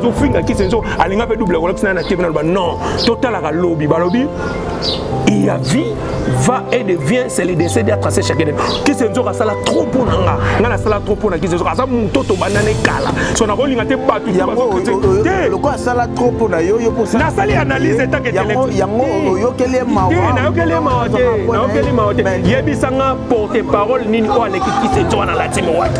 azofinga kisenzo alinga mpe double kolakisa naye na tv naloba non totalaka lobi balobi il y a vie va et devient c'est le décès à tracer chacun kisenzo asala trop mpo na nga nga nasala trop mpo na kisenzo aza moto tobanda na ekala so nakolinga te bato lokola asala trop mpo na yo nasali analyse etankeyango oyokeli nayokeli mawa te nayokeli mawa te yebisa nga porte parole nini oyo aleki kisenzo wana latimi waki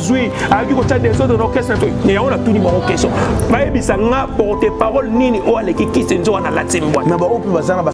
zwi ayoki kotya desordre na orchestre na to yango natuni bango question bayebisa nga porte parole nini oyo aleki kisi nzoka na lati mbwa na baoyo mpe baza na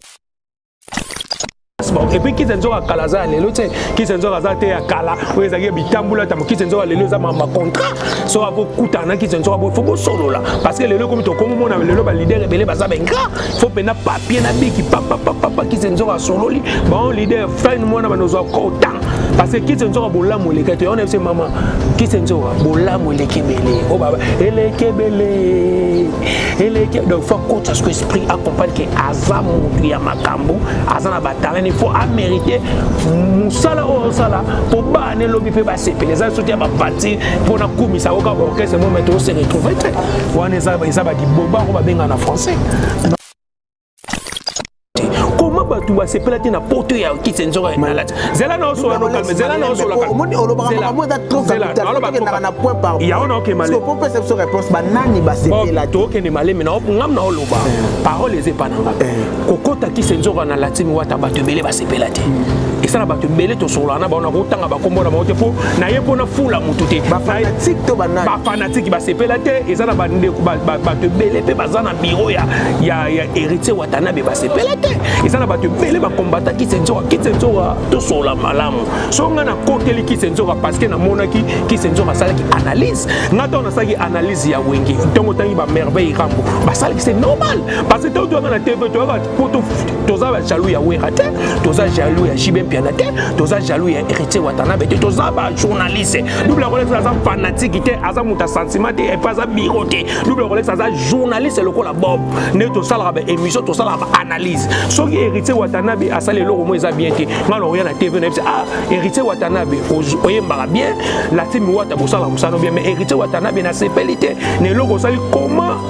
epuis kisi nzoka kala aza ya lelo te kisi nzoka aza te ya kala oyo ezalaki ya bitambula tamo kisi nzoka lelo eza mamba contrat so akokutana na kisi nzoka bo fo bosolola parce que lelo ekomi tokomomona lelo balider ebele baza bengra fo mpenza papie na biki papapapapa kisi nzoka asololi bango lider fine mwana bana ozwa kota parce que kisi nzoka bolamu eleki te ona biso mama kisi nzoka bolamu eleki ebele o oh, baba eleki ebele eleki donc fo akota soko esprit acomprendre ke aza motu ya makambo aza na batalani fo amerite mosala oyo osala po ane lobi mpe basepele eza soki ya bapati mpo na kumisa oka orchestre mo me tose retrouve te wana eza badiboba yango babenga na français koma bato basepela te na poto ya kiti nzoka malati zela na osola nokalme zela na osolaomoni olobaka makambo eza trop capitalkendaka na point par yango na okemale po pesa biso réponse banani basepela te okende malemi na ngam na oloba eh. parole eza epa na nga eh. kokota kisi nzoka na latimi wata bato ebele sepela te esa na bato ebele tosolola na bango nakotanga bakombo na bango te mpo naye mpo nafula motu te bafanatike basepela te eza na bandeko bato ebele mpe baza na biro ya héritier watanabe basepela te eza na bato ebele bakombata kisenzoka kisenzoka tosolola malamu so ngai nakoteli kisenzoka parceke namonaki kisenzoka asalaki analyse ngai ntango nasalaki analyse ya wenge ntongo otangi bamerveille rambo basalaki se normal parce que ntango toyaka na tv toyaka mpo toza bajaloux ya wera te toza jaloux ya jibe mpiana te toza jaloux ya héritier watanabe te toza bajournaliste double rolex aza fanatiki te aza moto ya sentiment te epe aza biro te double rolex aza journaliste lokola bob nde tosalaka baémission tosalaka baanalyse soki héritier watanabe asali eloko mo eza bien te ngai nakoya na tv nayebisa ah héritier watanabe oyembaka bien latimi wata kosala mosano bien mais héritier watanabe nasepeli te na eloko osali comment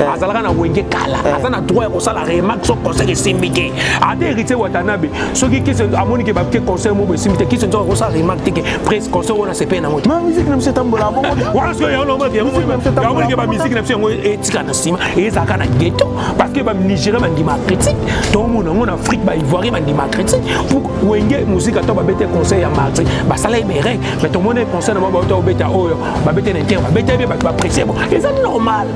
Eh. azalaka na wenge kala eh. aza na droit ya kosala remarque so conseil esimbi te ata héritier watanabe soki kisi amoni ke bake conseil moko esimbi te kisi nzoka kosala remarque te ke presse conseil wana sepeye nango te miziki na biso etambola bongo wana soki yango naomaki yango ke bamiziki na biso yango etika na nsima ezalaka na ghetto parce que banigeria bandima critique tomona yango na afrique baivoirien bandima critique pour wenge muzika to babete conseil ya marti basala ye berek mais tomoni conseil na bango bauta obeta oyo babete na inter babete ye bato bapresse bo eza normal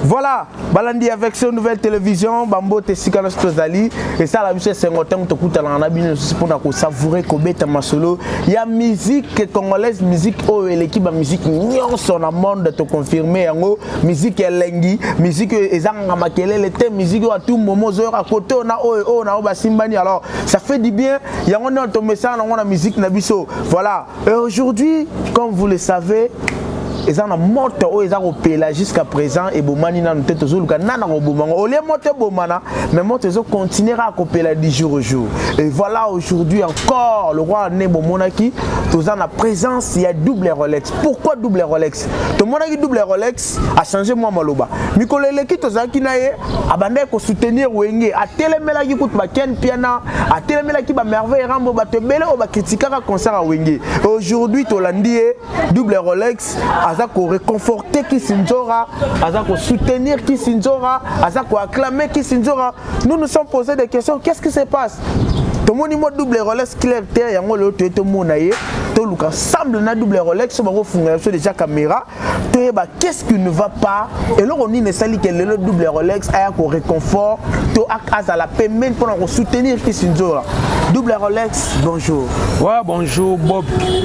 voilà balandi avec ce nouvelle télévision bambote esika nyonso tozali esala biso esengo ntango tokutanaka na bino lisusu mpona kosavoure kobeta masolo ya musique congolaise musique oyo eleki bamusike nyonso na monde toconfirme yango musique elengi musique oyo ezanganga makelele te musique oyo atumbomo ozoyoka kote oyo na oyo oyo na oyo basimbani alors ça fait du bien yango nde tomesana nango na musique na biso voilà et aujourd'hui comme vous le savez eza na moto oyo eza kopela jusqu'à présent ebomani nanu te tozoluka nana koboma yango olie moto ebomana mais moto ezo continuer kaka kopela du jour au jour et voilà aujourd'hui encore le roi ne bomonaki toza na présence ya double rolex pourquoi double rolex tomonaki double rolex achange mwa maloba mikolo eleki tozalaki na ye abandaki kosoutenir wenge atelemelaki kutu baken piana atelemelaki bamerveille rambo bato ebele oyo bakritikaka concert ya wenge aujourd'hui tolandi ye double rolex aza koreconforte kisinzora aza kosoutenir kisinzora aza koacclame kisinzora nous nous sommes posé des questions qu'est ce qui se passe tomoni mwa double rolex clair te yango lelo toye tomona ye toluka ensemble na double rolex bango funga biso deja camera toyeba qu'est-ce qui ne va pas eloko nini esali ke lelo double rolex aya ko réconfort to azala pembeni mpona kosoutenir kisinzola double rolex bonjour wa bonjour bob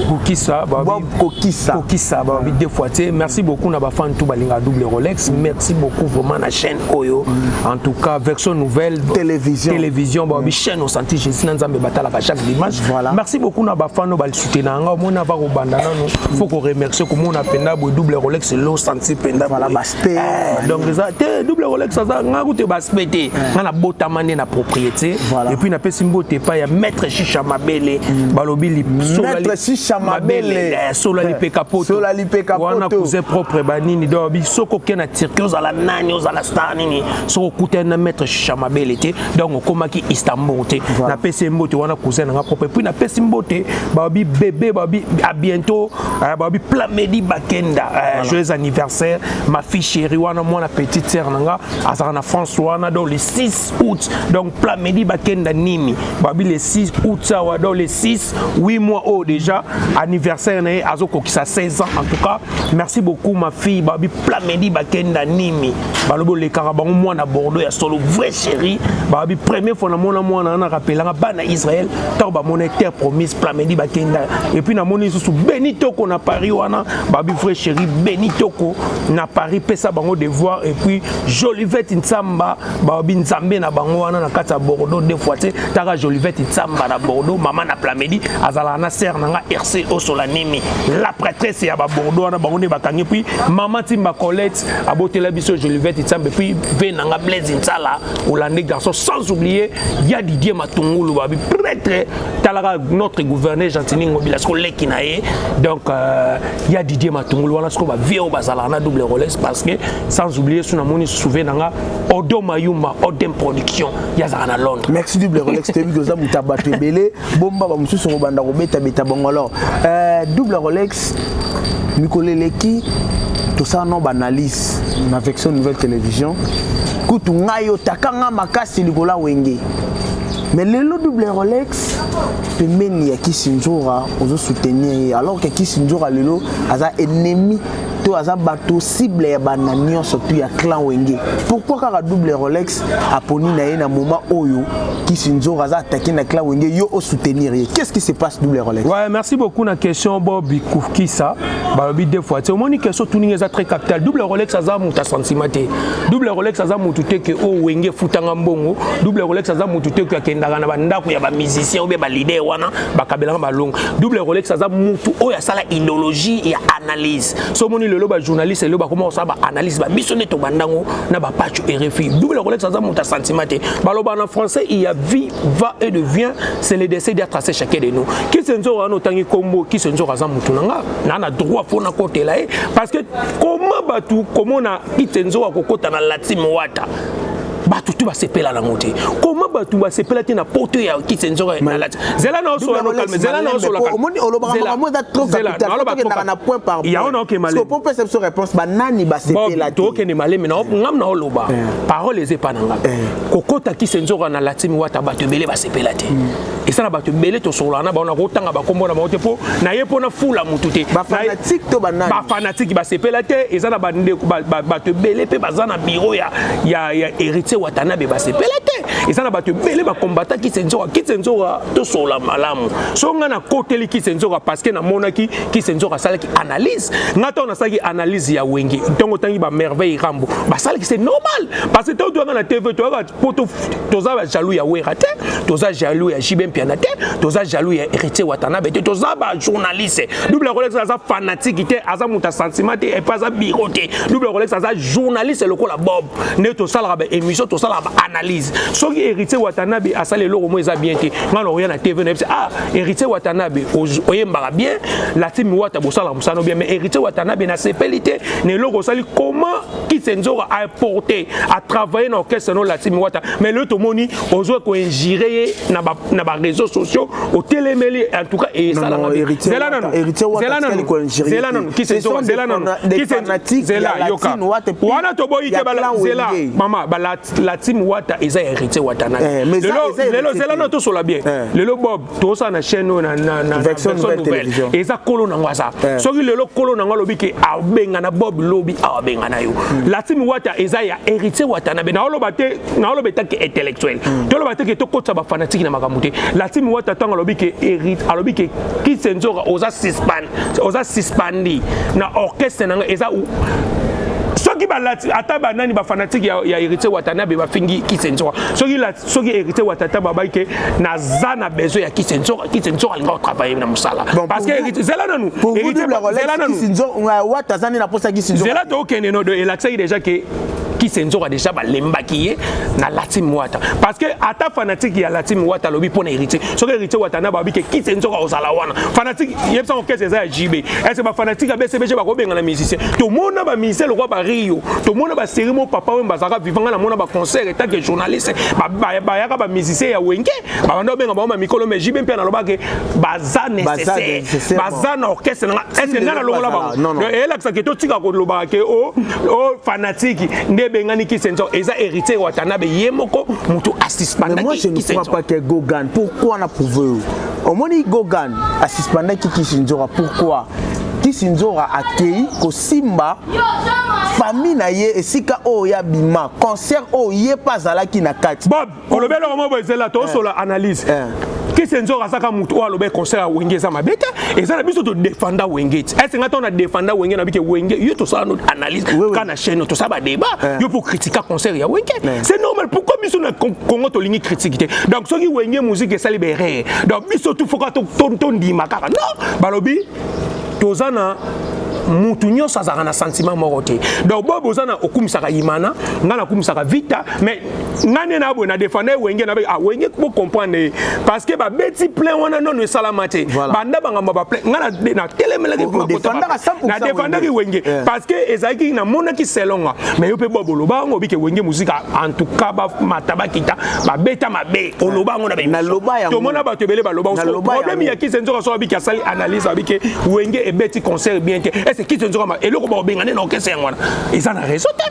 kokisa bob kokisa kokisa babi deux fois te merci beaucoup na bafan tout balinga double rolex merci beaucoup vraiment na chaîne oyo en tout cas version nouvelle télévision télévision ba bi chaîne au santi Jésus na Nzambe batalaka chaque dimanche voilà merci beaucoup na bafano ba soutenir nga mona ba kobanda nanu faut ko remercier ko mona penda bo double Rolex lo santi penda voilà ba spé eh, donc ça te double Rolex ça nga ko te ba spé te eh. nga na botama na propriété et puis na pesi mbote pa ya maître Chicha Mabele mm. balobi li maître Chicha Mabele eh, sola li pekapoto peka wana cousin propre ba nini donc bi soko ke na Turquie ozala nani ozala star nini soko kutana na maître Shisha Mabele te donc okomaki Istanbul te na pesi mbote wana cousin na nga propre puis na pesi mbote ba bi bébé ba bi à bientôt euh, ba bi Plamedi Bakenda euh, joyeux anniversaire ma fille chérie wana mwana petite sœur na nga azala na France wana donc le 6 août donc Plamedi Bakenda Nimi babi le 6 août sawa donc le 6 8 mois oyo oh, déjà anniversaire na ye azokokisa 16 ans en tout cas merci beaucoup ma fille babi plamedi bakenda nimi balobi olekaka bango mwana bordeaux ya solo vrai chéri babi premier fois namona mwana wana rapelaka bana israel ntango bamona terre promise plamedi bakenda epuis namoni lisusu beni toko na paris wana babi vrai chéri beni toko na paris pesa bango devoir epuis jolivete nsamba baobi nzambe na bango wana na kati ya bordeaux deux fois te taka jolivete nsamba na bordeaux mama na plamedi azalaka na sere na nga rc osola nimi la prêtresse ya babordeaux wana bango nde bakangi puis mama timba colette abotela biso jolivete nsambe puis ve na nga blaise nsala olande garçon sans oublier ya didie matungulu babi prêtre talaka notre gouverneur gentini ngobila siko leki na ye donc euh, ya didie matungulu wana siko bavie oyo bazalaka na double roles parce que sans oublier so namoni souve na nga Odo Mayumba Odem Production yazaka na Londres. Merci double Rolex toyebi koza moto ya bato ebele bomba ba mosusu kobanda kobetabeta bango alors euh, double Rolex mikolo eleki tosala no baanalyse na vection nouvelle télévision kutu ngai otaka ngai makasi likolo ya wenge mais lelo double rolex pembeni ya kisinzora ozo soutenir ye alors ke kisinzora lelo aza ennemi to aza bato cible ya bana nyonso tu ya clan wenge pourquoi kaka double rolex aponi na ye na moment oyo kisinzoro aza attaqué na clan wenge yo osoutenir ye qu'est ce qui se passe double rolex ouais, merci beaucoup na question bobi kukisa balobi deux fois te omoni question tuninga eza très capital double rolex aza moto asentiment te double rolex aza moto te ke oyo oh, wenge efutanga mbongo double rolex aza moto te ke akendaka na bandako ya bamusicien obe balider wana bakabelanga balongo double rolex aza mutu oyo asala idéologie ya analyse so omoni lelo bajournaliste lelo bakoma kosala baanalyse babiso nde tobandango na bapacho rfi double rolex aza mutu ya sentiment te baloba na français il ya vie va et de vient c'est le décès dia tracé chacun de nous kisi nzoro wana otangi kombo kisi nzoro aza mutu na nga na na droit mpo nakotela ye parce que koma bato komona kisi nzoro akokota na latime wata bato tu basepela nango te koma bato basepela te na poto ya kisenzoka nalati zela na osola no calme zela na osola omoni olobaka makambo eza trop capital tokendaka na point par point yango naoke maleme po pesa biso réponse banani basepela te tokende maleme na ngam na oloba eh. parole eza epa na ngai eh. kokota kisenzoka na latimi wata bato ebele basepela te hmm. esa na bato ebele tosolola na bango nakotanga bakombo na bango te mpo naye mpo nafula motu te bafanatike basepela te eza na bandeko bato ebele mpe baza na biro ya héritier watanabe basepela te eza na bato ebele bakombata kisenzoka kisenzoka tosolola malamu so ngai nakoteli kisenzoka parceke namonaki kisenzoka asalaki analyse ngai ntango nasalaki analyse ya wenge ntongo otangi bamerveille rambo basalaki se normal parce que ntango toyaka na tv toyaka mpo toza bajaloux ya wera te toza jaloux ya jibe mpiana te toza jaloux ya héritier watanabe te toza bajournaliste double rolex aza fanatiki te aza moto ya sentiment te epe aza biro te double rolex aza journaliste lokola bob nde tosalaka baémission tosalaka baanalyse soki héritier watanabe asali eloko mo eza bien te ngai nakoya na tv nayebisa ah héritier watanabe oyembaka bien latimi wata bosalaka mosano bien mais héritier watanabe nasepeli te na eloko osali comment Kisenzora a importé, a travaillé dans l'orchestre non Latimi Wata. Mais le tomoni, ozo ko injiré na ba na ba réseaux sociaux, au télémeli en tout cas et ça là. Zela non. Héritier Wata qui ko injiré. Zela non. Kisenzora Zela non. Kisenzora Zela yoka. Wana to boyi ke bala Zela. Mama ba Latimi Wata eza héritier Wata na. Lelo lelo Zela non to sola bien. Lelo Bob tozosala na chaîne oyo na version nouvelle eza kolo nango aza eh. soki lelo kolo nango alobi ke abengana bob lobi awa abengana yo hmm. latimi wata eza ya héritier watanabe naoloba te naoloba etaki intellectuel hmm. toloba te ke tokotisa bafanatiki na makambo te latimi wata ntango alobi ke hérite alobi ke kisenzora oza suspend oza suspendi na orchestre na ngai eza soki balati ata banani bafanatike ya, ya héritier watanabe bafingi kisenzora soki soki héritier wa tata babai ke naza na besoin ya kisi nzoka kisi nzoka alinga kotravaille na mosala parce que héritier zela nanu zela nanu wata azani na posa kisi nzoka zela tokende no elakisaki déjà ke kisi nzoka déjà balembaki ye na latim wata parce que ata fanatique ya latim wata alobi mpo na héritier soki héritier wata na babi ke kisi nzoka ozala wana fanatique yebisa orchestre eza ya jb ese bafanatique ya bcbg bakobengana musicien tomona bamusicien lokola bario tomona baserie mo papa oyo bazalaka vivanga na mona baconcert tant que journaliste bayaka ba musicien ya wenge babanda obenga bango mikolo mais jibe mpe naloba ke baza nécessaire baza na orchestre nanga est ce que ngai nalongola bango eyelakisa ke totika kolobaka ke o o fanatiki nde ebengani kisenzo eza héritier watanabe ye moko motu asispandaki moi je ne crois pas que gogan pourquoi na prouve yo omoni gogan asispandaki kisinzora pourquoi kisinzora akei kosimba famille na ye esika oyo ya bima concert oyo ye mpe azalaki na kati bob olobi eloko moko ezela tosola eh. analyse eh. kisi nzoka asaka moto oyo aloba concert ya wenge eza mabe te eza na biso todefanda wenge ti ese ngai ntango na defanda wenge na bike wenge yo tosala no analyse ka na chaîne tosala badébat eh. yo mpo kritika concert ya wenge c'est normal pourquoi biso na congo tolingi kritike te donc soki wenge muziki esali berere donc biso tu foka tondima kaka non balobi toza na mutu nyonso azalaka na sentiment moko te donc bobo oza na okumisaka imana ngai nakumisaka vita mais ngai nde naboye na defanda ye wenge nabe ah wenge bocomprendre ye parce que babeti plein wana nono esalama te banda bangambo ba plein ngai natelemelaki na defandaki wenge eh. parce que ezalaki namonaki selonga mais yo mpe bobo loba yango obike wenge muzika en tout cas bamata bakita babeta mabe oloba yango na batomona bato ebele baloba problème ya kise nzoka so abiki asali analyse abiki wenge ebeti concert bien te ese kise nzoka eloko bakobengane na orkestre yango wana eza na réseau te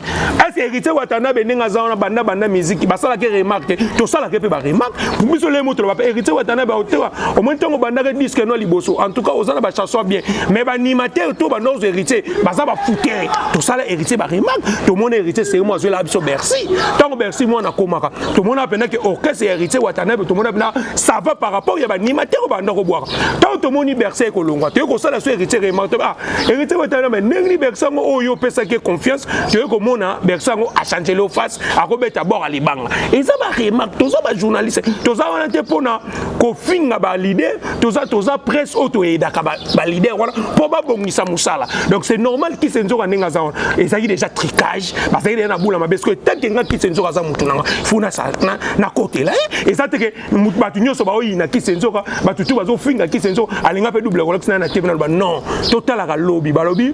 ese héritier watanabe ndenge aza wana banda banda miziki basalaki remarque te tosalaki mpe baremarque biso lemo toloba mpe héritier watanabe aotewa omoni ntango obandaki disque no liboso en tout cas oza na bachanson bien mais banimateur to banorzo héritier baza bafouter tosala héritier baremarke tomona héritier serimo azwelaka biso bercy ntango bercy mwana akomaka tomona mpena ke orchestre ya héritier watanabe tomona mpena ça va par rapport ya banimatere oyo banda kobwaka ntango tomoni bercy ekolongwa toyei kosala so héritier remarke ah héritier watanabe ndenge ni bercy yango oyo oh, opesaki confiance toyei komona bercy yango achangele o face akobeta bord ya libanga eza baremarke toza bajournaliste toza wana te mpona kofinga balider toza toza presse oyo toyedaka balider wana mpo babongisa mosala donc c'est normal kise nzoka ndenge aza wana ezalaki déjà tricage bazalaki deja na bula mabe soki etanke nga kise nzoka aza motu nanga fo nakotela eh, eza teke bato nyonso baoyina kise nzoka bato tu bazofinga kise nzoka alinga mpe double kolakisi naye na tv naloba non totalaka lobi balobi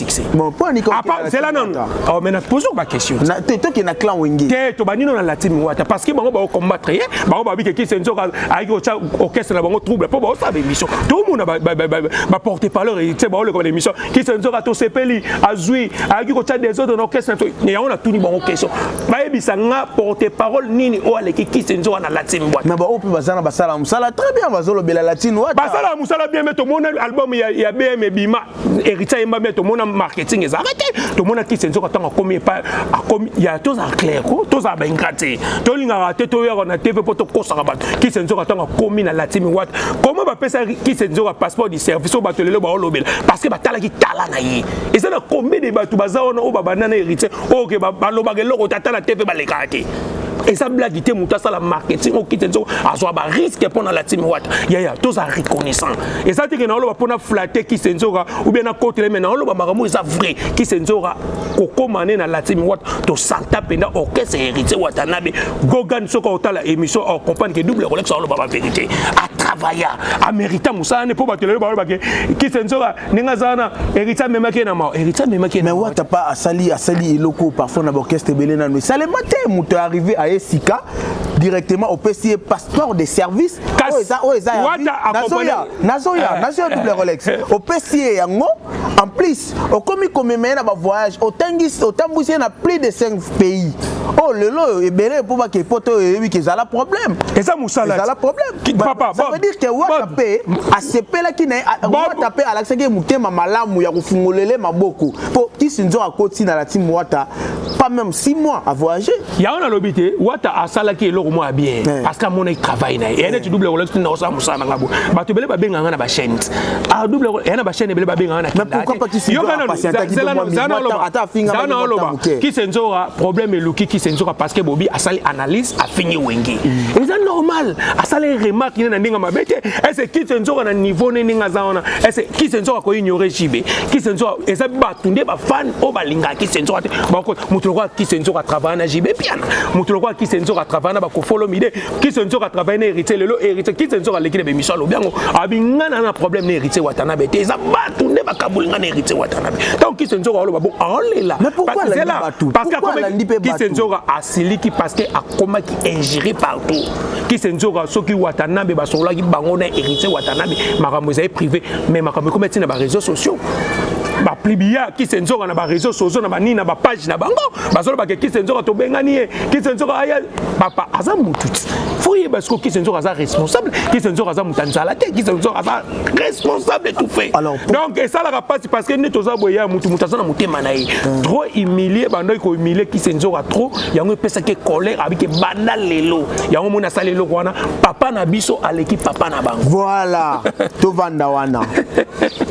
succès. Bon, pour Nico. Apa, c'est là non. Oh, mais na pose ba question. Na te to ki na clan Wenge. Te to bani non na Latin Wata parce que bango ba combattre ye, bango ba bike ki senzo ka ayi ko cha orchestre na bango trouble po ba sa ba émission. Tout le monde ba ba ba porter par leur tu sais ba le comme émission. Ki senzo ka to sepeli azui ayi ko cha des autres na orchestre to. Ne yaona tout ni bango question. Ba yebisa nga porter parole nini o ale ki ki senzo na Latin Wata. Na ba opi bazana basala musala très bien bazolo bela Latin Wata. Basala musala bien mais to mona album ya ya BM Bima héritier ayemba bien tomona marketing eza arrete tomona kisi nzoka ntango akomi epai akomi ya tozala clair ko tozala baingra te tolingaka te toyaka na tv mpo tokosaka bato kisi nzoka ntango akomi na latimi wata koma bapesa kisi nzoka passeport du service oyo bato lelo baolobela parce que batalaki tala na ye eza na combien de bato baza wana oyo babanda na héritier oyo ke balobaka eloko te ata na tv balekaka te eza blagi te moto asala marketing okite nzoka azwa bariske mpo na latimi wata yaya tozala reconnaissant eza te ke naoloba mpo na flate kise nzoka oubien nakotela me naoloba makambo eza vrai kise nzoka kokoma ne na latimi wata tosanta mpenza orchestre héritier watanabe gogan soki otala émission ocomprendre ke double rolex aoloba bavérité atravailla amérita mosala ne mpo bato lelo balobake kise nzoka ndenge aza wana héritier amemaki ye na mao héritier amemaki ye na wata pa asali asali eloko parfois na baorchestre ebele nano esalema te moto arrivé aye sika directement opesi ye passeport de service oyo eza oyo eza nazoya nazoya eh. nazoya double rolex eh. opesi ye yango en plus okomi komema ye na bavoyage otangisi otambwisi ye na plus de 5 pays oyo oh, lelo oyo ebele mpo bake poto oyo eyebi ke ezala problème eza mosala ezala problème ça veut dire que wata mpe asepelaki na ye wata mpe alakisaki ye motema malamu ya kofungolele maboko mpo kisi nzoka akoti na lati mwata pas même 6 mois à voyager yango nalobi te wata asalaki eloko mwa bien eh. parce que amonaki travail na ye eye neti double kolaki tina osala mosala na nga bo bato ebele babenga nga na bachaine ah, double eye na bachaine ebele babenga nga nayokanaloba kisenzora problème eluki kisenzora parce que bobi asali analyse afingi wenge mm. eza normal asali remarque ne na ndenge mabe te ese kisenzora na niveau ne ndenge aza wana ese kisenzora koignore jibe kisenzora eza bato nde bafani oyo balingaka kisi nzoka te bango moto lokola kisi nzoka atravaya na jibe piana moto lokola kisi nzoka atravaya na bakofolo mide kisi nzoka atravaya na héritier lelo héritier kisi nzoka aleki na bemission alobi yango abi nga na na problème na héritier watanabe te eza bato nde bakaboli nga na héritier watanabe ntango kisi nzoka aloba bo aolela kisi nzoka asiliki parce que akomaki ingéré partout kisi nzoka soki watanabe basololaki bango na héritier watanabe makambo ezali privé mais makambo ekomaki ntina ba réseaux sociaux ba plibia kise nzoka na ba réseaux sociaux na ba nini na ba page na bango bazoloba ke kise nzoka tobengani ye kise nzoka aya papa aza mutu ti fo yeba siko kise nzoka aza responsable kise nzoka aza mutu anzala te kise nzoka aza responsable tout fait Alors, pour... donc esalaka pasi parce que nde toza boye ya mutu mutu aza na motema na ye hmm. trop humilier bandaki ko humilier kise nzoka trop yango epesaki colère abike banda lelo yango moni asali eloko wana papa na biso aleki papa na bango voilà tovanda wana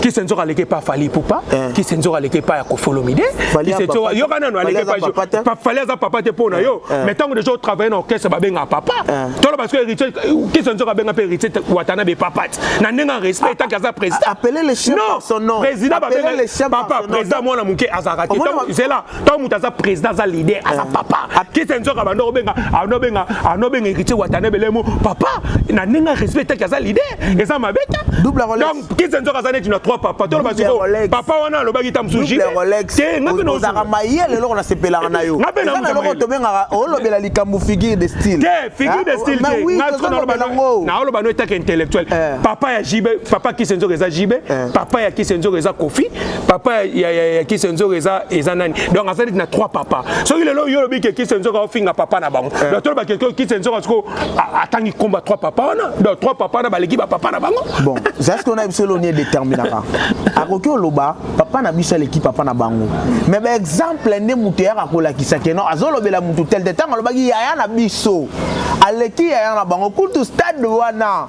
kisenzo aleki epa fali pupa eh. kisenzo aleki epa ya kofolomide kisenzo yoka nano aleki epa fali aza papa te mpo na yo eh. mais ntango deja otravaille na orchestre babengaka papa eh. tolo parce que héritier kisenzo abenga mpe héritier watana be papa te na ndenge ya respect etaki aza président président babengapapa président mwana moke azalaka te zela ntango moto aza président aza leader aza eh. papa kisa nzoka banda obenga anobenga anobenga héritier watane belemo papa na ndenge ya respect etaki aza leader eza mabe ta donc kisa nzoka aza neti na trois papa toloba siko papa wana alobaki ta mosusu te ngaozaka mayele eloko nasepelaka na yo eza na eloko tobengaka olobela likambo figure de style te figure de style te naoloba no etaki intellectuel eh. papa ya jibe papa kisa nzoka eza jibe eh. papa ya kisa nzoka eza kofi papa ya, ya, ya kisi nzoka eza, eza nani donc azali na trois papa soki lelo yo olobi ke kisi nzoka ofinga papa na bango eh. donc toloba ke kisi nzoka siko atangi komba trois papa wana donc trois papa wana baleki bapapa na bango bon zaske ona biso eloni edeterminaka akoki oloba papa na biso aleki papa na bango mais baexemple nde moto eyaka kolakisa ke no azolobela moto tel te ntango alobaki yaya na biso aleki yaya na bango kutu stade wana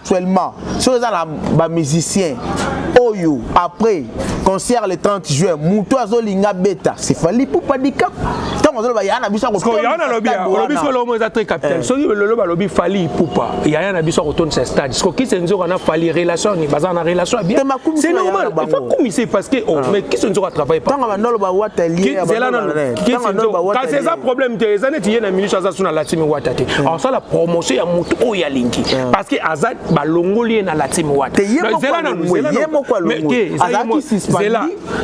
actuellement soki eza na bamusicien oyo après concert le 30 juin moto azolinga beta sefali pupa dikap ntango azoloba yaya na biso akoyaya nalobiolobi siko lomo eza très capital eh. soki lelo balobi fali pupa yaya na biso akotondisa stade siko kisi nzoka na fali relation ni baza na relation ya bien c'est normal il faut kumisa parce que oh ah. mais kisi nzoka travaille pas ntango bandolo bawata liezela nano kasi eza problème te eza neti ye na minisi aza so na latimi wata te hmm. asala promotion ya motu oyo alingi hmm. parce que aza balongoli ye na latimi wata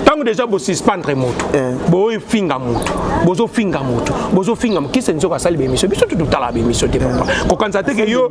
ntango deja bosuspendre motu hmm. bofinga motu bozofinga motu bozofinga motu kise nzoka asali bemission biso tututala bemission te papa kokanisa te ke yo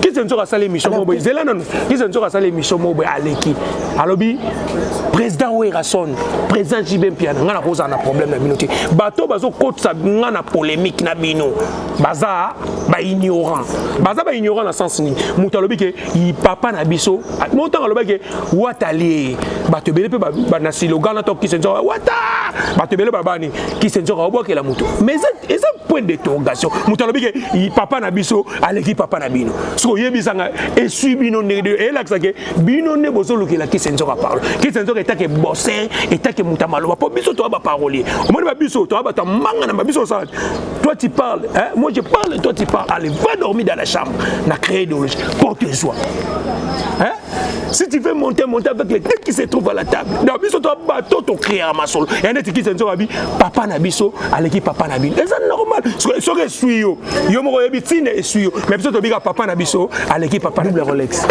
kisa nzoka asala émission moko boye zela nanu kisa nzoka asala émission moko boye aleki alobi président werrason président jb mpiana ngai nakozala na problème na bino te bato bazokotisa ngai na polémique na bino baza baignorant baza baignorant na sens nini moto alobi ke papa na biso mo ntango alobaki ke watalie bato ebele mpe na silogan na to kisa nzoka wata bato ebele babani kisa nzoka obwakela moto mais eza point d'interrogation moto alobi ke papa na biso aleki papa na bino soki oyebisanga esui bino ndenge elakisa ke bino nde bozolukela kisi nzoka parlo kisi nzoka etake boser etake moto ya maloba mpo biso toya baparolier omoni ba biso toya bato ya manga na babiso osala toi tu parles hein? moi je parle toi tu parles allez va dormir dans la chambre na créer idéologie porte joie hein? si tu veux monter monter avec les têtes qui se trouvent à la table na biso to bato to créer masolo ya neti kisa nzoka abi papa na biso aleki papa na bino eza normal soki eswi yo yo moko oyebi ntina eswi yo mais biso tobika papa na biso aleki papa double rolex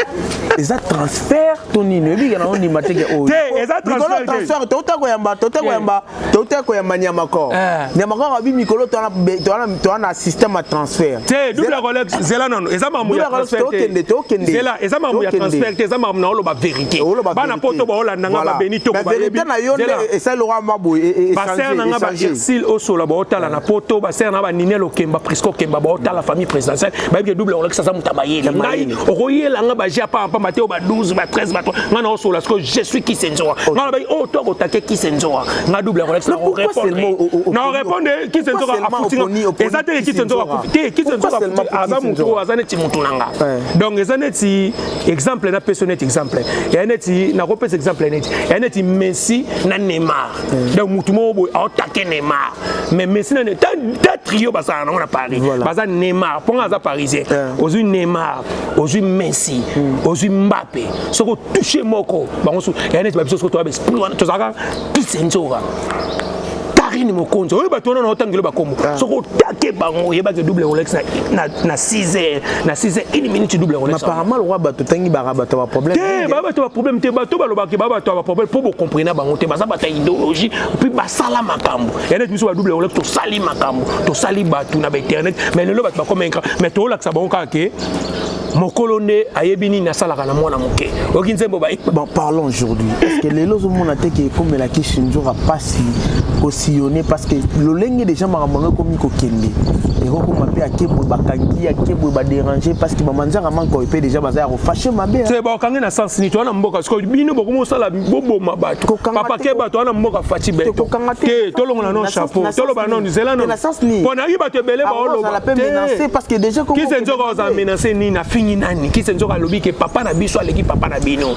eza transfert to nini oyebi yango ndima teke oyo te eza transfert te ota koyamba ota koyamba toteka koyamba nyamakor eh. nyamakor abi mikolo toa na système ya transfert te double rolex zela nano eza makambo ya transfertokende tokende zela eza makambo ya transfert te eza makambo na oloba verité bana poto baolanda nga babeni to bayebi na yo nde esali lokola mwa boye e- e- baser na nga bairsil osola baotala na poto baser na nga baninel okemba prisco okemba baotala famille présidentielle bayebi ke double rolex aza moto ya mayele ngai okoyela nga baje ya pamba pamba te oyo ba 12 ba 13 ba 3 nga na osola sikoyo je suis kisenzoa nga nalobaki oyo oh, to akotake kisenzoa nga double akolakisa na orépondre kisenzoka afuti nga eza te kisenzoka akufi te kisenzoka aza motu oyo aza neti motu na nga donc eza neti exemple na peso neti exemple eya neti nakopesa exemple neti eya neti messi na neymar mm. donc mutu moko boye aotake neymar mais messi nani ta trio basala nango na paris baza neymar mpo nga aza parisien eh. ozwi neymar ozwi messi mm. ozwi mbape soki otouche moko bango so ya neti babiso soki toya baesprit wana tozalaka kisenzoka karine mokonzi oyo bato wana naotangelo bakombo ah. soki otake bango oyebaki double rolex na na 6 heures na 6 heures une minute double yango apparemment lokola bato tangi baka bato ba problème te ba bato ba problème te bato balobaki ba bato ba problème mpo bocomprena bango te baza bato ya idéologie mpe basala makambo ya neti biso ba double yango tosali makambo tosali bato na bainternet mais lelo bato bakoma incra mais toolakisa bango kaka ke mokolo nde ayebi nini asalaka na mwana moke oyoki nzembo ba parlons aujourd'hui parce que lelo ozomona te ke ekomelaki shinzora mpasi sillonner parce que lolenge déjà makambo yango ekomi kokende ekokoma mpe akebwe bakangi akebwe badérange parce que bamanzaka mankoy mpe déjà baza ya kofashe mabe te bakangi na sens nini toza na mboka sikoyo bino bokomi osala boboma bato papake bato wana mboka faci beto te tolongola no chapeau toloba no nzela no mpo nayebi bato ebele baoloba kise nzoka oza menase nini afingi nani kise nzoka alobi ke papa na biso aleki papa na bino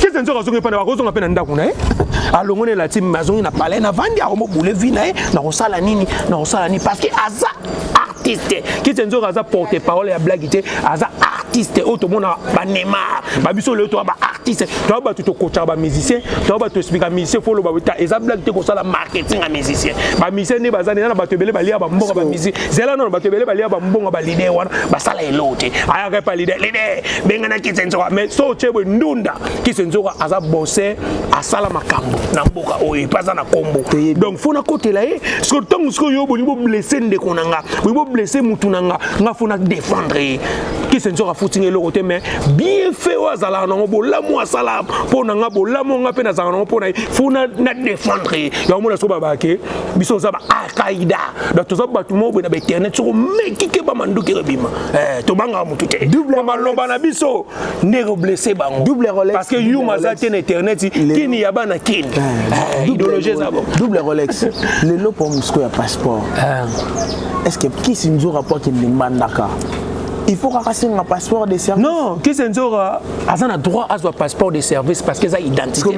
kese nzoka azongi epai na bakozonga mpe na ndako na ye alongo na elati azongi na palais na vandi akomobule vi na ye nakosala nini nakosala nini parce que aza artiste kese nzoka aza porte parole ya blagi te aza artiste oyo tomonaka banemar babiso lelo toya baartiste toya bato tokotaka bamusicien toya bato explika musicien fo oloba ta eza blage te kosala marketing ya musicien bamusicien nde baza nde na bato ebele balia bambonga bamusicien zela nono bato ebele balia bambonga balide wana basala eloo te ayaka epa lide lide bengana kise nzoka mais so otye boye ndunda kise nzoka aza bose asala makambo na mboka oyo epe aza na nkombo donc fo nakotela ye siko ntango sikoyo yo bolingi boblesse ndeko na nga bolingi boblesse motu na nga nga fo na défendre ye kise nzoka afutinga eloko te mais bien fait oyo azalaka nango bolamu asala mpo na nga bolamu nga mpe nazalaka nango mpo na ye fo na défendre ye yango mona soko babaka ke biso oza ba alqaida donc toza bato moko boye na bainternet soko mekike bamanduki ebima Eh, tobangaka motu te maloba na biso nde ekoblesse bango parce que yuma aza te na internet kini ya bana kini eh, eh, idéologie eza bo double rolex lelo mpo mosiko ya passeport est ce que kisi nzora mpo akende mbandaka il faut kaka asenga passeport de service non kese nzora aza na droit azwa passeport de service parce que eza identité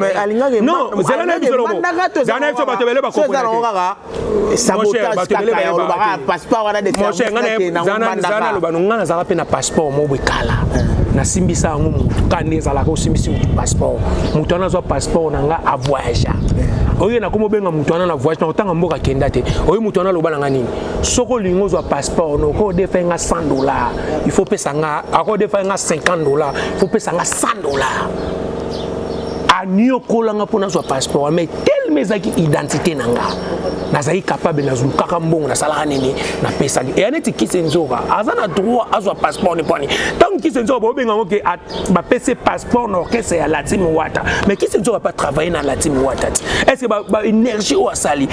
non zala na biso lobo zala na biso bato ebele bakoko sabotageolobakaapasportwanadefzanalobano ngai nazalaka mpe na passeport moko ekala nasimbisa yango motu kani ezalaka osimbisi motu passeport motu wana azwa passeport na ngai avoyagea oye nakomi obenga moto wana na voyage na kotanga mboka kenda te oye moto wana aloba na nga nini soki olingi ozwa passeport no oko odefa nga 100 dollar il faut pesa nga ako odefa nga 50 dollar il faut pesa nga 100 dollar aniokolanga mpo nazwa passeport telema ezalaki identité na nga nazali capable nazulukaka mbongo nasalaka nini napesaki eya neti kisi nzoka aza na droit azwa passeport niponi ntango kisi nzoka bobenga yango ke bapesi passeport na orchestre ya latin wata mais kisi nzoka pa travaille na latin wata ti est ce que baénergie oyo asali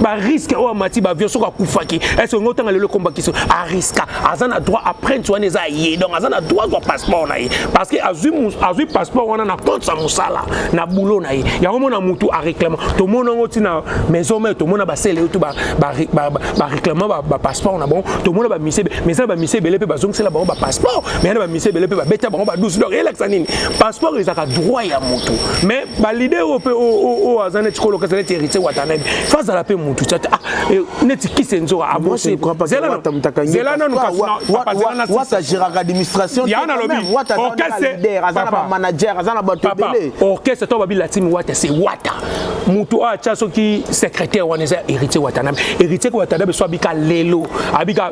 barisque oyo amati bavio soki akufaki est ce que ngo ntanga lelo ekombaki so ariska aza na droit apprenti wana eza ye donc aza na droit azwa passeport na ye parce que azwi passeport wana na compte ya mosala na boulot na ye yango mona motu areclama tomona yango ntina maison mare tomona basele yo to bareclama bapasseport na bango tomona bamisi mais eza na bamisi ebele mpe bazongisela bango bapasseport mais yana bamisi ebele mpe babeta bango badusi donc elakisa nini passeport ezalaka droit ya motu mais balide oyo mpe oyo aza neti kolokasa neti héritier watanebe fazala mpe motu eh, neti kise nzoka abosezela nanu kasiwata géraka administration ya nalobi orchestre aza na bamanager aza na bato ebele orchestre to babi latimi wata se wata moto oyo atya soki secrétaire wana eza héritier watanabe héritier watanabe so abika lelo abika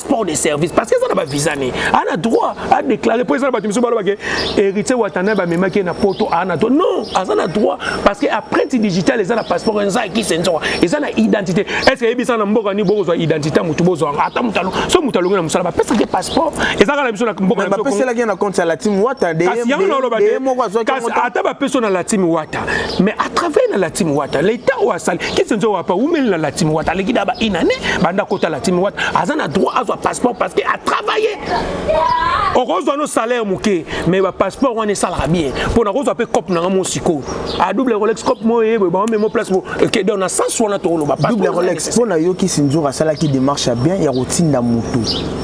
passeport de service parce que eza na bavisa ne ana droit adéclare mpo eza na bato misusu baloba ke héritier watana bamemaki ye na poto ana to non aza na droit parce que aprenti digital eza na passeport eza ekise nzoka eza na identité est ce que eyebisa na mboka nini bokozwa identité ya motu bozwanga ata motu alo so motu alongi na mosala bapesaki passeport eza kaka na biso na mboka bapeselaki na compte ya latime wata kasi yango naloba te kasi ata bapeso na latime wata mais à travers na la team wata l'état oyo asali kisi nzo wapa wumeli na la team wata aleki da ba une année banda kota la team wata aza na droit azwa passeport parce que a travailler okozwa no salaire moke mais ba passeport wana esalaka bien mpo na kozwa mpe cope nanga mo sikoyo a double rolex cope mo ye boye bamemo place mo ke donc na sens wana tokoloba double rolex mpo na yo kisi nzoka asalaki démarche ya bien ya kotinda motu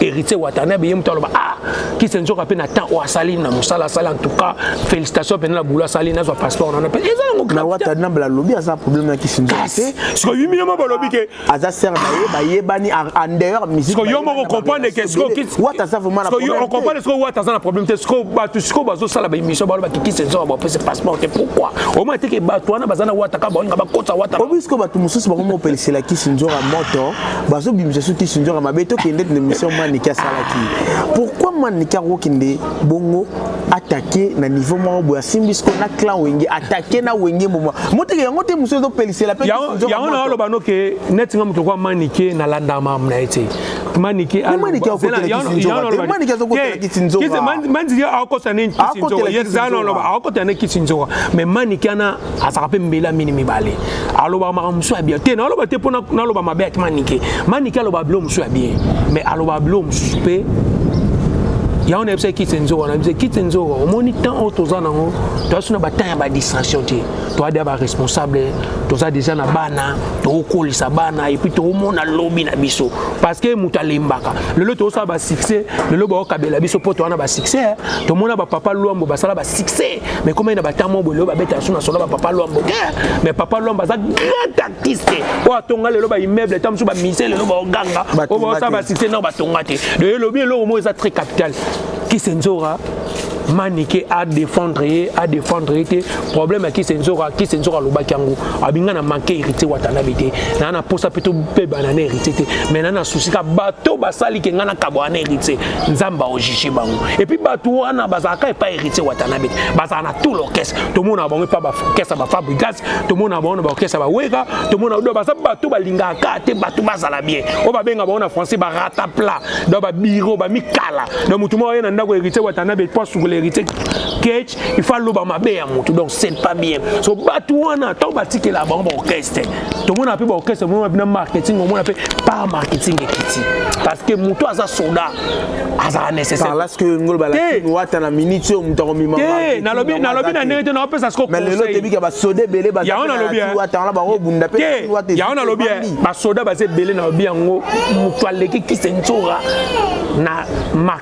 héritier watanabe ye moto aloba ah kise nzoka mpe na temps oyo asali na mosala asali en tout cas félicitation mpenza na boulot asali nazwa passeport nana mpe eza yango na watanabe alobi aza problème ya kisi nzoka te siko yimi yo moko olobi ke aza ser na ye bayebani en dehors musique siko yo moko comprendre ke siko kisi wata aza vraiment na problème siko yo comprendre siko wata aza na problème te siko bato siko bazosala ba émission baloba ke kisi nzoka bapesa passeport te pourquoi omona te ke bato wana baza na wata kaka baolinga bakota wata obi siko bato mosusu bango mopelisela kisi nzoka moto bazobimisa soki sinzoka mabe tokende na émission manike asalaki pourquoi manike akokende bongo atake na niveau moko boye asimbi siko na clan wenge atake na wenge moma moteke yango te mosusu ezopelisela pe yango na oloba no ke neti nga moto kwa manike nalandaka mamu na ye te manike manike akokota ne kisinzoka mais manike ana azalaka mpe mbela mini mibale alobaka makambo mosusu ya bien te naloba te mpo naloba mabe yaki manike manike alobaka bilo mosusu ya bien mais alobaka bilo mosusu mpe yango nayebisa kiti nzoka nayebisa kiti nzoka omoni temps oyo toza nango toyasi na batemp ya badistraction te toya deya baresponsable toza deja na bana tokokolisa bana epuis tokomona lobi na biso parce que moto alembaka lelo tokosala basuccès lelo bakokabela biso mpo towana basuccès tomona bapapa lwambo basala basuccès mais comme na bata mwa bolelo babeta yasu na solo ba papa lwambo mais papa lwambo aza grand artiste oyo atonga lelo baimmeuble ntango mosusu bamise lelo baoganga oyo baosala basite nao batonga te de elobi eloko moko eza très capital kisenzora manike adefendre ye adefendre ye te problème ya kisenzoka kisenzoka alobaki yango abinga na manke héritier watanabe te naa na mposa mpe tobebana na héritier te mai naa na susi ka bato basali ke ngai nakabwana na héritier nzambe aojuge bango epuis bato wana bazalaka epa héritier watanabe te bazala na tout l'orchestre tomonaka bango epa baorchestre bafabrigas tomonaka bango na baorchestre baweka tomona do baza bato balingaka kaka te bato bazala bien oyo babenga bango na français barata plat do babiro bamikala do motu moko aye na ndako héritier watanabe po asukula héritier kec il faut aloba mabe ya motu donc c'est pas bien so bato wana ntango batikela bango baorchestre tomona mpe baorchestre omona bina marketing omona mpe par marketing ekiti parce que motu aza soda azala nécessairewata na minute oyo moto akomimnalobi na ndenge te naopesa sikoyango nalobi basoda baza ebele nalobi yango moto aleki kisenzora na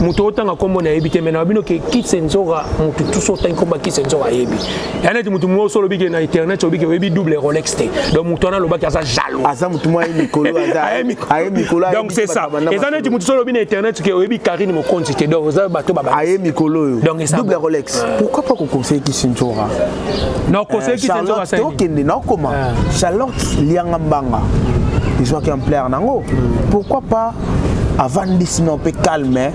moto otanga nkombo na yebi te me na bino ke kise nzoka moto tuso otangi nkombo ya kise nzoka ayebi ya neti moto moso olobi ke na internet obi ke oyebi double rolex te donc moto wana alobaki aza jaloux aza moto mwa ye mikolo aye mikolo donc c'est ça eza neti moto so olobi na internet ke oyebi karine mokonzi te donc oza bato baba aye mikolo oyo donc eza double rolex ah. pourquoi pas koconseille kise nzoka na oconseille eh, kise nzoka sasa okende na okoma ah. charlotte lianga mbanga ezwaki ampleur nango hmm. pourquoi pas avandisi no mpe calme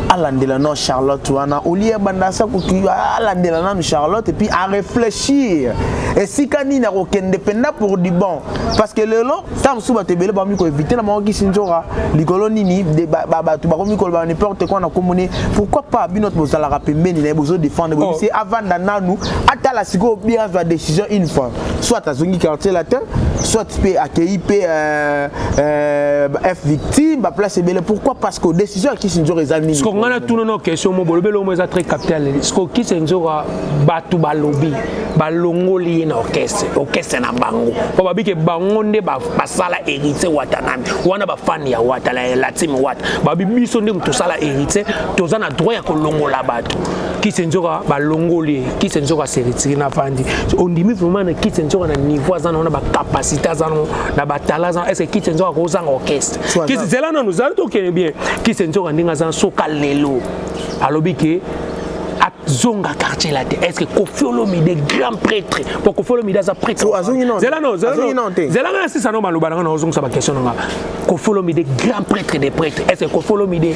alandela no charlotte wana olie bandasa kutu alandela nanu charlotte epuis areflechir esika nini akokende mpenza pour du bon parce que lelo ntango mosusu bato ebele bakomi koevite na bango kisi nzoka likolo nini bato bakomi koloba n'importe quoi na nkombo ne pourquoi pas bino to bozalaka pembeni na ye bozodefendre boyebisi oh. avanda nanu atala sikoyo bien azwa décision une fois soit azongi quartier latin soit mpe akei mpe euh, euh, f victime baplace ebele pourquoi parce que décision ya kisindjora eza nini siko ngai natuna no question mo bolobeli omo eza très capital siko kisindjora bato balobi balongoli ye na orchestre orchestre na bango mpo babike bango nde basala héritier watanami wana bafani ya wata latime wata babi biso nde tosala héritier toza na droit ya kolongola bato kise nzoka balongoli ye kise nzoka seritiri na fandi ondimi vraiment na kise nzoka na niveau aza nango na bacapacité aza nango na batala aza est ce que kise nzoka akozanga orchestre kise zela nanu zala tokende bien kise nzoka ndenge aza soka lelo alobi ke zonga quartier là te est-ce que Koffi Olomide grand prêtre pour Koffi Olomide aza prêtre oh, azongi non zela non zela non zela nga sisa non maloba nga na ozongisa ba question nga Koffi Olomide grand prêtre des prêtres est-ce que Koffi Olomide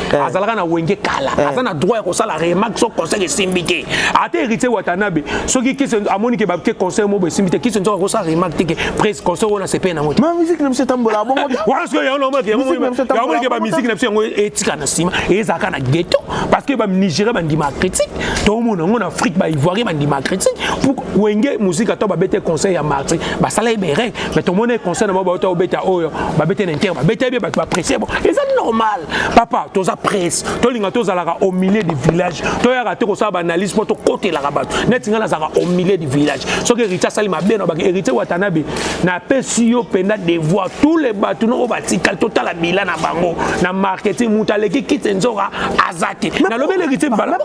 eh. azalaka na wenge kala eh. aza na droit ya kosala remarque so conseil esimbi te ata héritier watanabe soki kisi amoni ke bake conseil moko esimbi te kisi nzoka kosala remarque te ke pres conseil wana sepeye nango te miziki na biso etambola bongo wana soki yango namonike bamiziki na biso yango etika na nsima ezalaka na ghetto parce que banigeria bandima critique tomona yango na afrique baivoirien bandima critique wenge muzika to babete conseil ya marti basala ye bereg mais tomoni concert na bango bauta obeta oyo babete na inter babeta bie bato bapresse bo eza normal papa toza presse tolinga tozalaka au milieu du village toyaka te kosala baanalyse mpo tokotelaka bato neti ngai nazalaka au milieu du village soki héritier asali mabe na baki héritier watanabe napesi yo mpenza devoir tous les bato noko batikali totala bila na bango na marketing moto aleki kite nzoka aza te nalobeli héritier mbala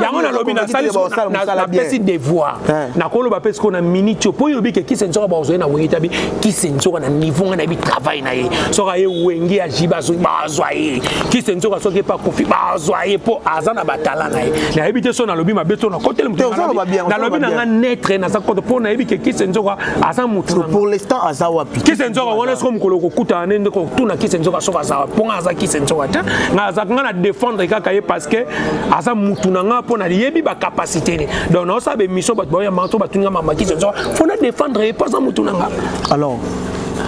yango nalobi napesi devoir nakoloba mpe sikoyo na miniti oyo mpo oyo obi ke kisensoka bazwai na wenge tabi kisensoka na niveau ngai nayebi travail na ye soki aye wenge ya ji bazwi bazwa ye kisensoka soki epa kofi bazwa ye mpo aza na batala na ye nayebi te so nalobi mabe to nakoteli motnalobi na nga netre naza koto mpo nayebi ke kisensoka aza motupourlestant aza wapi kisensoka wana soko mokolo kokutana ne nde kotuna kisensoka soki aza wapi mpo ngai aza kisensoka te ngai azaka ngai na défendre kaka ye parce que aza mutu na ngai mpo nayebi bacapacité ne donc naosala bemission bato baoyamba to batuni nga mamakisi nzoka mpo na défendre ye mpo aza motu na nga alors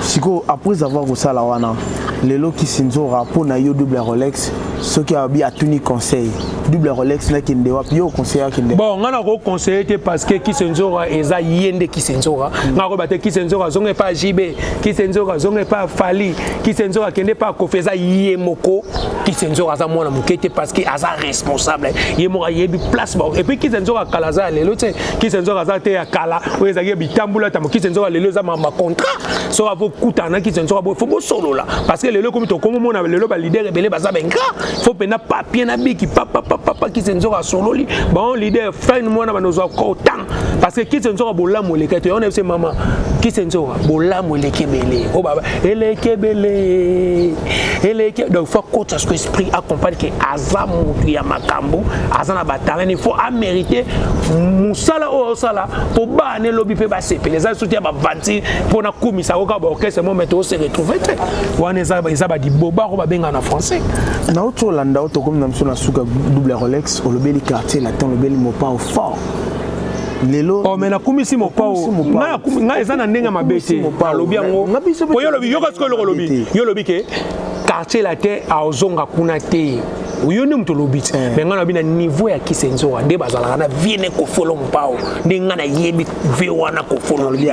sikoyo après avoir kosala wana lelo kisinzora mpo na yo double rolex soki abi atuni conseil double rolex nakende wapi yo oconseille akende bon ngai nakoconseille te parce que kisenzora eza ye nde kisenzora mm. ngai akoyeba te kisenzora azonga epa jb kisenzora azonga epa fali kisenzora akende epa kofi eza ye moko kisenzora aza mwana moke te parce que aza responsable ye moko ayebi place ba epuis kisa nzoka kala aza ya lelo te kisa nzoka aza te ya kala oyo ezalaki ya bitambula tamo kisa nzoka lelo eza ma contrat soki avo kutana na kisa nzoka boye fo bosolola parce que lelo ekomi tokomomona lelo ba leader ebele baza benga fo mpenza papier na biki papapapapa kisa nzoka asololi bango leader fine mwana banozwa kotanga parce que kisi nzoka bolamu eleki to yona biso mama kisi nzoka bolamu eleki ebele o oh, baba eleki ebele eleki donc faut kota ce esprit accompagne que aza mutu ya makambo aza na batalent il faut amérite musala oyo osala po bana elobi mpe basepela eza lisusu te ya bavanti mpo na kumisa koka baorchestre mo mete ose retrouve te wana eza badiboba ko babenga na français nauti olanda oyo tokomi na biso na suka double rolex olobeli quartier latin olobeli mopao fort lelo oh, me nakumisi mopao ngai eza na ndenge mabe te alobi yango po yo olobi yoka sikoyo eloko olobi yo olobi ke quartier latin aozonga kuna te oyo nde moto olobi ti eh. me ngai nabi na niveau ya kisenzoa nde bazalaka na vie ne kofolo mpao nde ngai nayebi ve wana kofolome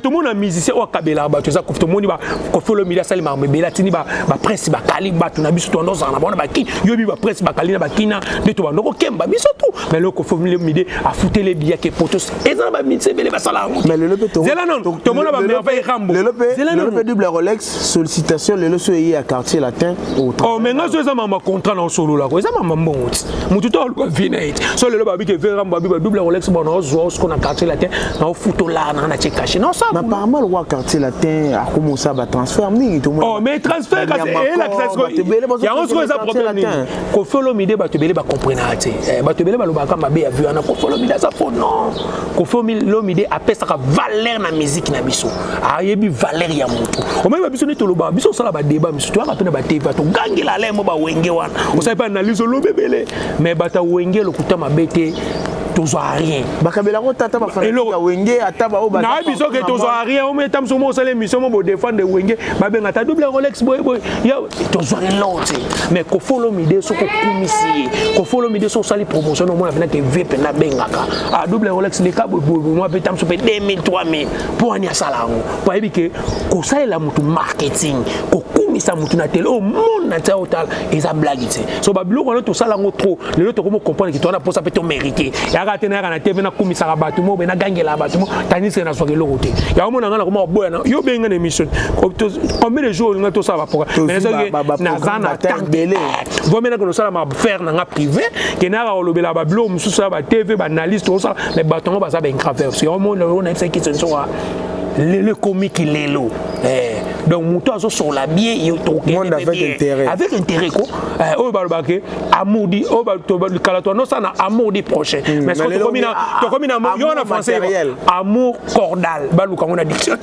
tomona musicien oyo akabelaka bato eza tomoni kofolo mili asalemaka mebele atindi bapresse bakali bato na biso toanda ozala na bango na baki yo bi ba presse bakali na bakina nde tobanda kokemba biso tu mais loko formule mide afutele biyake potos eza na baminisi ebele basala yango mais lelo mpe zela nono tomona bamerveille rambo lelo mpe double rolex sollicitation lelo so eye ya quartier latin oh, mais nga so eza mama contrat na osololako eza mama mbongo ti motu to aluka vie na ye ti so lelo babike ve rambo abi badouble rolex bona ozwa osiko na quartier latin naofutolaka nanga natie kashe naosaapparemment lokola quartier latin akomosa batransfert mingi oh, mais transfert kasi elakisa eh, yango sikoyo eza problème nini kofi olomide bato ebele bacomprenaka te eh, bato ebele balobaka mabe ya vue wana kofi olomide aza fo non kofi olomide apesaka valeur na miziki na biso ayebi valeur ya motu omaiba biso nde toloba biso osala badeba misusu toyaka mpe na batv togangela alaye mo bawenge wana osali mpe analyse olobi ebele mais bata wenge lokuta mabe te tozwa rien bakabela ko tata ba famille ya wenge ata ba oba na biso ke tozwa rien o meta mso mo sale mission mo defendre wenge ba benga ta double rolex boy boy ya tozwa l'autre mais ko follow mide soko kumisi ko follow mide so sali promotion mo na bina ke vp na bengaka a ah, double rolex le ka boy boy mo pe tamso pe 2000 3000 po ani asala ngo po yebi ke ko salela mutu marketing ko kumisa mutu na tele o monde na tsa otala eza blague so babiloko wana tosala yango trop lelo tokomi okomprendre kito wana mposa mpe tomérite yaka te nayaka na tv nakumisaka bato mo be nagangelaka bato mo tandiseke nazwaka eloko te yango mona ngai nakoma koboya na yo obengi ngai na émission combien de jours olingai tosala baprogramme mais soki naza na temps ebele vomi nake nosala bafaire na ngai privé ke nayaka kolobela babiloko mosusu ya batv baanalyste osala mais bato yango baza baingraver yango mona oyo nayebisaki kisensoka lelo ekomi kilelo eh. donc moto azosola bie monde avec intérêt avec intérêt ko eh, oyo balobaka amour di oyo kala toanosa na amour di prochain hmm, mais soki tokomi na tokomi na yo na français amour cordal baluka ngo na dictionnaire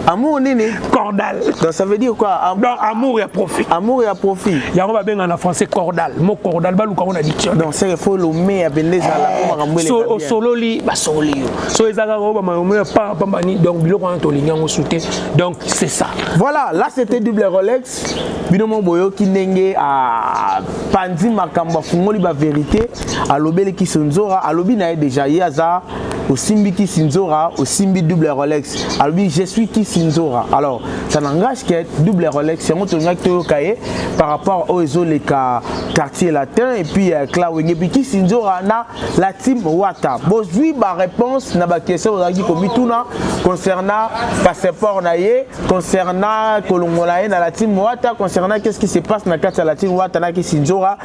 amour nini cordal donc ça veut dire quoi Am donc amour ya profit amour ya profit yango babenga na français cordal mo cordal baluka ngo na dictionnaire donc c'est faut le mais ya bende ezala eh, komaka mbwele so osololi basololi yo so ezalaka oyo bamayomeo ya pamba ni donc biloko wana tolingi yango sute donc c'est ça voilà là c'était double rolex bino mo boyoki ndenge apanzi ah, makambo afungoli baverité alobeleki sonzora alobi na ye déjà ye aza osimbi kisinzora osimbi double rolex alobi je suis kisinzora alors ça n'engage que double rolex yango tolingaki toyoka ye par rapport oyo ezoleka quartier latin et puis euh, clawenge puis kisinzora na la team Wata bozui ba réponse na ba question ozalaki komituna concernant passeport na ye concernant kolongola ye na la team Wata concernant qu'est-ce qui se passe na kati ya la team Wata na Kisinjora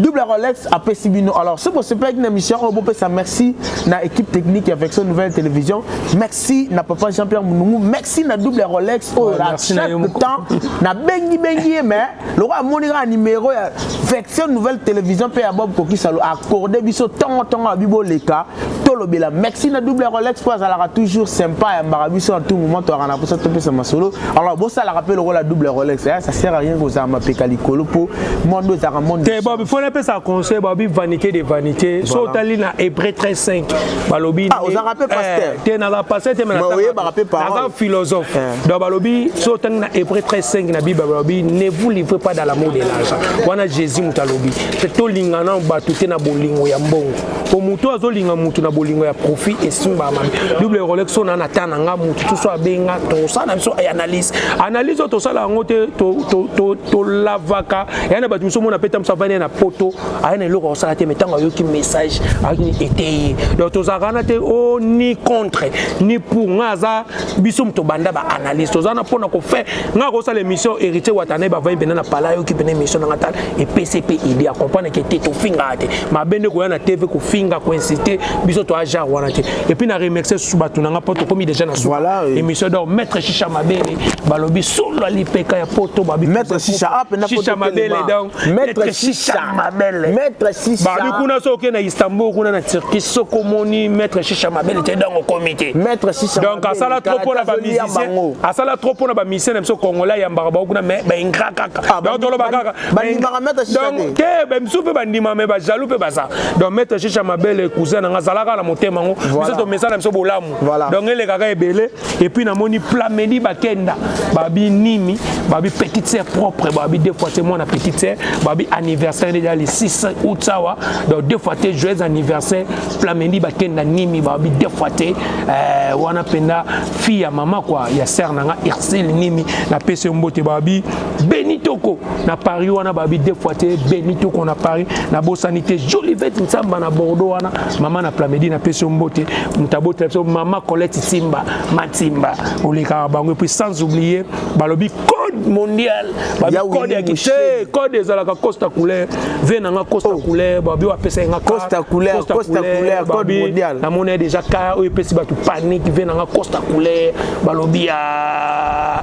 double Rolex apesi bino alors soki bosepelaki na mission oyo bopesa merci na équipe technique ya Vexo Nouvelle Télévision merci na papa Jean-Pierre Munungu merci na double Rolex oyo oh, à chaque temps na bengi bengi ye mais lokola amoni kaka nimero ya version nouvelle télévision mpe ya bob kokisalo accorde biso ntongo ntongo abi boleka tolobela maxi na double rolex mpo azalaka toujours sympa ayambaka biso na tout moment toyaka na mposa topesa masolo alors bosalaka mpe lokola double rolex eh, ça sert à rien kozala mapeka likolo mpo monde ezalaka monde te bob fo napesa conseil bobi vanité de vanité so otali na hébreu 13 5 balobi ah, ozalaka mpe eh, pasteur te naza pasteur te mais oyebaka mpe parole naza philosophe eh. donc balobi so otangi na hébreu 35 na bible balobi ne vous livrez pas dans l'amour de l'argent wana jésus moto alobi te tolingana bato te na bolingo ya mbongo po moto azolinga moto na bolingo ya profit esimbaka mabe double rolex so na nata na nga moto toso abenga tosala na biso analyse analyse oyo tosala yango te tolavaka ya na bato mosusu omona mpe ntango avandi na poto aya na eloko akosala te mai ntango ayoki message ayokini eteye donc tozalaka wana te o oh, ni contre ni pour nga aza biso moto banda ba analyse toza na pona ko faire nga ko sala émission héritier watane ba vayi bena na pala yo ki bena émission nga tal et PCP idée à comprendre que to finga te ma bende ko na TV ko finga ko inciter biso to aja wana te et puis na remercier sous batu nga poto komi déjà na voilà émission donc maître chicha ma bende balobi solo lipeka ya poto ba maître chicha a pena poto chicha ma bende donc Maître Shisha Mabele. Maître Shisha. Babi kuna so okenda Istanbul kuna na Turquie soko omoni Maître Shisha Mabele te donc okomi te. Maître Shisha Mabele. Donc asala trop mpo na ba musiciens. Asala trop mpo na ba musiciens na biso congolais ya mbaka bango kuna mais ba ingra kaka. Ah, donc toloba kaka. Ba ndimaka Maître Shisha te. Donc te ba misu mpe ba ndima mais ba jaloux mpe baza. Donc Maître Shisha Mabele cousin na nga azalaka na motema yango. Biso tomesana biso bolamu. Donc elekaka ebele. epuis namoni plamedi bakenda babi nimi babi petite sœur propre babi deux fois te mwana petite sœur babi anniversaire deja le 6 août awa donc deux fois te joyeux anniversaire plamedi bakenda nimi babi deux fois te euh, wana mpenza fille ya mama kwa ya sœur na nga ursile nimi napesi yo mbote babi benitoko na paris wana babi deux fois te beni toko na paris nabosani te jolivete nsamba na bordeaux wana mama na plamedi napesi yo mbote moto abotela biso mama colette simba matimba olekaka bango epuis sans oublier balobi code mondial babi code ya kite code ezalaka costa couleur ve na nga costa oh. couleur babi oyo apesaki nga costa couleur costa couleur code mondial namoni déjà ka oyo epesi bato panique ve na nga costa couleur balobi ya ah,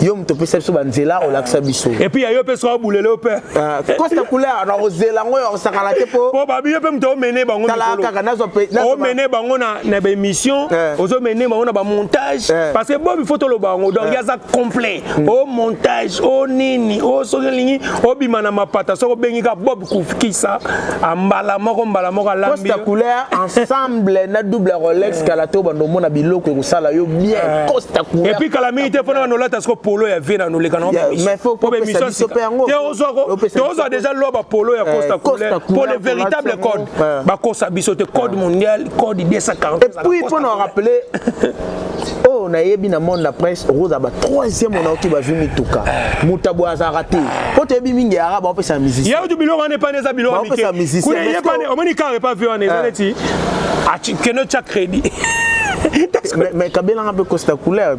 yo moto opesa biso banzela olakisa biso epuis yayo mpe soki abulele yo mpe kosta ah, couleur na kozela yango ya kosakana te mpo mpo babiyo mpe moto omene bango kaka nazomene bango na baémission eh. ozomene bango na bamontage eh. parce que bobi fo toloba yango donc eh. yaza complet o oh, montage o oh, nini o oh, soki elingi obima na mapata soki obengi ka bob kufkisa ambala moko mbala moko alambicosta couleur ensemble na double rolex eh. kala te obanda omona biloko ekosala yo bien eh. costa couleur epuis kala mingi te mpona bana olata siko polo ya vie na noleka na tozwa deja lwa bapolo ya costa eh, couleur mpo le véritable code bakosa biso te code mondial code 240 epuis mpona orappeler oyo nayebi na monde na presse okozala ba troisième ona oki bazwi mituka moto aboye azalaka te mpo toyebi mingi arab baopesa musicien yautu biloko wana epana eza biloko mike kuna eyepane omoni kaka epa vi wana eza neti kende otya crédit mais kabela nga mpe costa couleur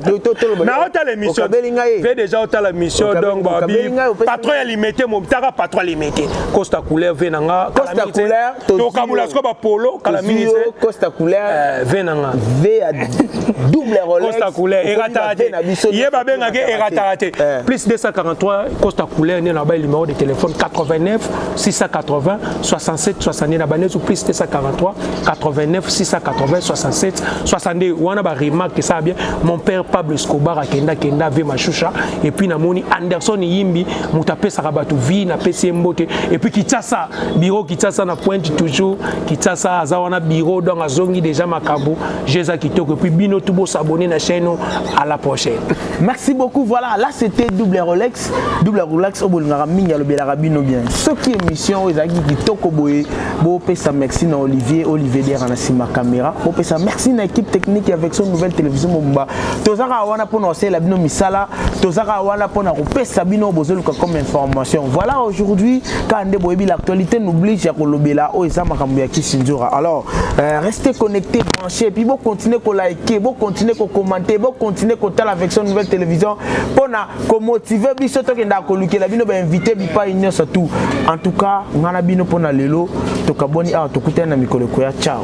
na otala émission kabeli ngai mpe déjà otala mission donc babi patron ya limete motaka patron ya limete Costa couleur vin na nga Costa couleur tokabola siko bapolo kala mingi te Costa couleur eh, vin na nga vin ya double Rolex Costa couleur erataka te ye babengaki erataka te eh. plus 243 Costa couleur nde na bai numéro de téléphone 89 680 67 62 na banesu plus 243 89 680 67 62 wana ba remarque ça bien mon père Pablo Escobar akenda kenda ve mashusha et puis namoni Anderson Yimbi moto apesaka bato vie napesi ye mbote epuis kitasa biro kitasa na pointe toujours kitasa aza wana biro donc azongi deja makambo je eza kitoko epuis bino tu bosabone na chaîne à la prochaine merci beaucoup voilà là c'était double rolex double rolex oyo bolingaka mingi alobelaka bino bien soki émission oyo ezalaki kitoko boye bopesa merci na olivier olivier dera na nsima caméra bopesa merci na équipe technique avec son nouvelle télévision mobimba tozaka wana mpo na kosalela bino misala tozaka wana pona kopesa bino bozoluka comme information voilà aujourd'hui kaka nde boyebi l'actualité n'oblige ya kolobela oyo eza makambo ya kisinzora alors euh, restez connecté branché puis bocontinue kolike bocontinue kokommente bocontinue kotala avec son nouvelle télévision pona komotive biso tokendaka kolukela bino bainvité bipai nyonso tout en tout cas ngai na bino pona lelo tokaboni awa tokutani na mikolo ekoya ciao